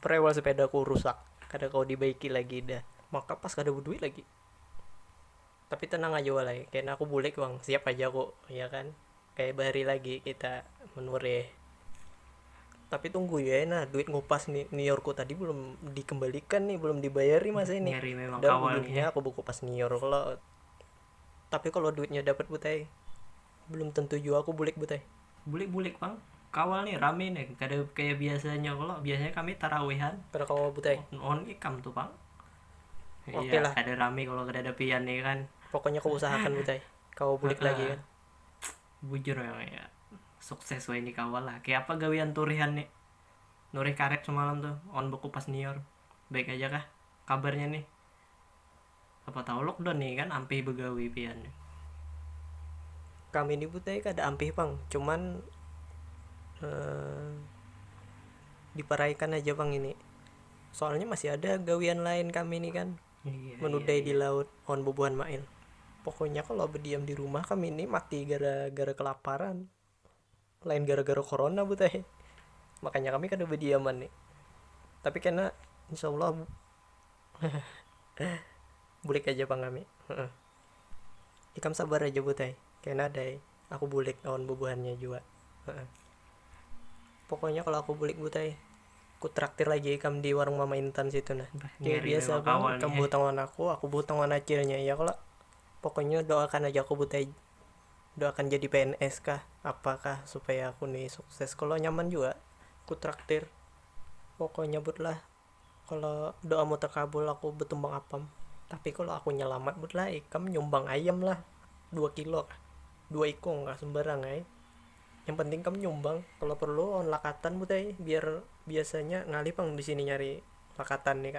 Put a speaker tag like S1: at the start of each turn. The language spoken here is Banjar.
S1: Prewel sepedaku rusak, kada kawa dibaiki lagi dah. Maka pas kada beduit lagi. Tapi tenang aja walai, kena aku bulik pang, siap aja aku, ya kan. Kaya bahari lagi kita menureh. Tapi tunggu jua ai nah, duit ngupas ni, niorku tadi belum dikembalikan nih, belum dibayar nih masa ini. Ngeri memang awalnya. Dah ulunnya
S2: aku bekupas nior
S1: kalo. Tapi kalau duitnya dapat but ai, belum tentu jua aku bulik but ai. Bulik bulik pang,
S2: kawal nih rame nih kada kaya biasanya kalo, biasanya kami tarawihan. Kada kawa but ai.
S1: On ikam tu pang.
S2: Oke Iya lah. kada
S1: rame kalo kadada
S2: pian nih kan. Pokoknya ku usahakan
S1: but ai, kawa bulik lagi kan. Bujur
S2: memang ya, sukses wahini kawal lah. Kaya apa gawian turihan nih, nurih karet semalam tuh, on bekupas nior. Baik aja kah kabarnya nih. Apa tahu lockdown nih kan ampih begawi pian.
S1: Kami ni butai kada ampih pang cuman diparaikan aja pang ini soalnya masih ada gawian lain kami ni kan menudai
S2: di laut wan
S1: bubuhan mail pokoknya kalo bediam di rumah kami ni mati gara-gara kelaparan. lain gara-gara corona bu teh makanya kami kada badiaman ni tapi kena insya Allah bulik aja pang kami ikam sabar aja bu teh kena ada ai aku bulik lawan bubuhannya jua pokoknya kalo aku bulik bu teh ku traktir lagi ikam di warung mama intan situ nah kaya biasa pang ikam
S2: behutang lawan
S1: aku
S2: aku
S1: behutang lawan acilnya ya kalo pokoknya doakan aja aku bu teh. Udah akan jadi pns kah apa kah supaya aku nih sukses kalau nyaman juga aku traktir pokoknya but lah kalau doamu terkabul aku betumbang apam tapi kalau aku nyelamat but lah ikam nyumbang ayam lah dua kilo kah dua ikung kah sembarang ay yang penting kam nyumbang kalau perlu lawan lakatan but ay biar biasanya ngalih pang di sini nyari lakatan nih kak